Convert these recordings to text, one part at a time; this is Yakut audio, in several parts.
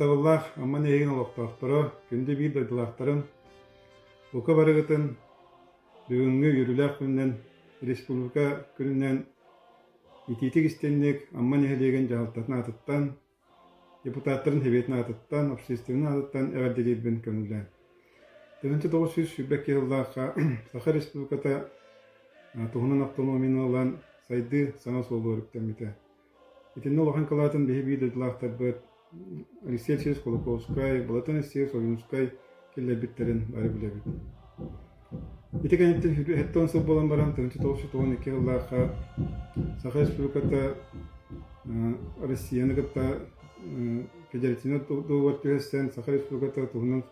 Тапталлаах Амма нэһиэгин олохтоохторо күндү биир дойдулаахтарын, бука барыгытын бүгүҥҥү үөрүүлээх күнүнэн республика күнүнэн итиитик истинник Амма нэһилиэгин дьаһалтатын аатыттан Депутаттарын Сэбиэтин аатыттан, общественнай аатыттан эҕэрдэлиирбин көҥүллээн. Тыһыынча тоҕус сүүс сүүрбэ икки сыллаахха Саха Республиката туһунан автономияны ылан, сайдыы саҥа суолу өрүктэммитэ. Итиннэ улахан кылаатын биһи-бии дойдулаахтарбыт Алексей Алексеевич Кулаковскай, Балатын Алексеевич Ойуунускай киллэрбиттэрин бары билэбит. Ити кэнниттэн сэттэ уон сыл буолан баран тыһыынча тоҕус сүүс тоҕон икки сыллаахха Саха Республиката Россияны кытта федеративнай договор түһэстэн Саха Республиката туһунан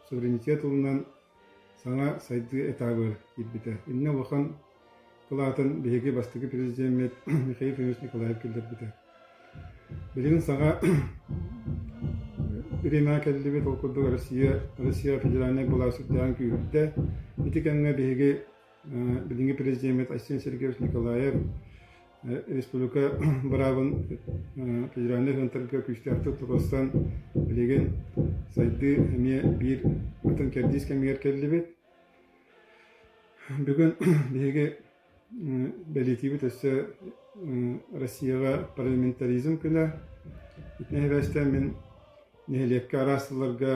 суверенитет ылынан саҥа сайдыы этабыр киирбитэ. Иннэ улахан Ол аатын биһиги бастакы президеммит Михаил Ильич Николаев киллэрбитэ. Билигин саҕа Ирина кэллибит, ол курдук Россия, Россия федеральнай былаа сүрдээх күүрдэ. Ити кэмҥэ биһиги билиҥҥи президеммит Айсен Сергеевич Николаев республика быраабын федеральнай центрга күүстээхтик тутустан билигин сайдыы эмиэ биир атын кэрдиис кэмигэр кэллибит. Бүгүн биһиги бэлиитиибит өссө Россияҕа парламентаризм күнэ. Ити нэһилиэктэн мин нэһилиэккэ араас сылларга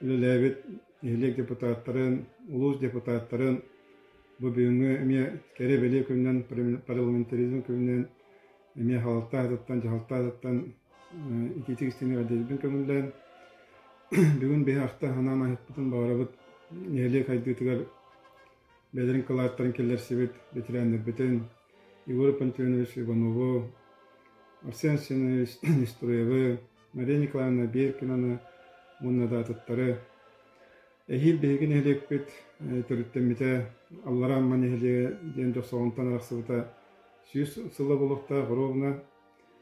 үлэлээбит нэһилиэк депутаттарын, улуус депутаттарын бу бүгүҥҥү эмиэ кэрэ-бэлиэ күнүнэн, парламентаризм күнүнэн эмиэ халалтаа атыттан, дьаһалта атыттан итиитик истини эрдэлбин көҥүллээн, бүгүн биһи ахта анаан аһыппытын баҕарабыт нэһилиэк сайдыытыгар бэдэрин кылааттарын киллэрсибит ветераннарбытын Егор Пантеонович Иванову, Арсен Арсенович Нестуровы, Мария Николаевна Беркинаны уонна да атыттары Эһиил биһиги нэһилиэкпит төрүттэммитэ Аллараа Амма нэһилиэгэ диэн досуолунтан арахсыбыта сүүс сыла булуохтаах боруобуна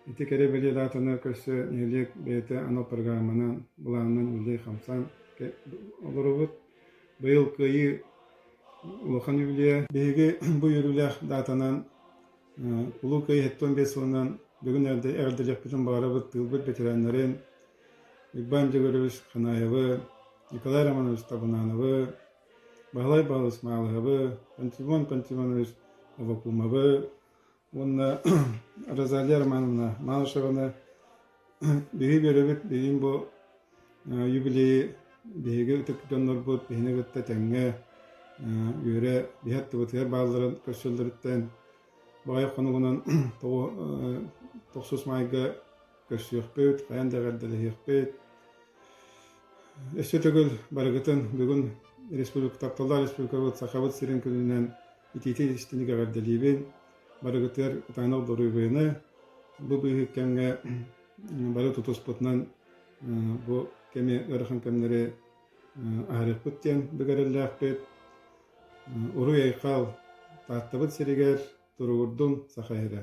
ити кэрэ-бэлиэ даатаны көрсө нэһилиэк бэйэтэ анал программанан былаанынан үлэлии-хамсаан олоробут. Быйыл кыайыы улахан үбүлүйэ. Биһиги бу үөрүүлээх даатанан Улуу Кыайыы 75 сылынан бүгүн эрдэ эҕэрдэлэхпитин баҕарабыт тыылбыт бэтэрээннэрин, Уйбаан Дьөгүрүс, Ханаайабы, Николай Романович Табунановы, Баһылай Баһылыс Маалыһабы, Пантелеймон Пантелеймонович Авакумовы уонна Розалия Романовна Малышеваны биһи биэрэбит билигин бу юбилейы биһиги ытык дьоннорбут биһини кытта тэҥҥэ үөрэ биһи аттыбытыгар баалларын көрсөллөрүттэн Баҕайы хонугунан тоҕу тохсус маайга көрсүөхпүт, хайаан да эҕэрдэлэһиэхпит. Өссө төгүл барыгытын бүгүн республика тапталлаах республикабыт Сахабыт сирин күнүнэн итиитин-истиник эҕэрдэлиибин. Барыгытыгар ытаанах доруобуйаны, бу быыһы кэмҥэ бары тутуспутунан бу кэми ыарахан кэмнэри аһарыахпыт диэн бик эрэллээхпит. Уруй-айхал, Тааттабыт сиригэр туругурдун, саха иһирэ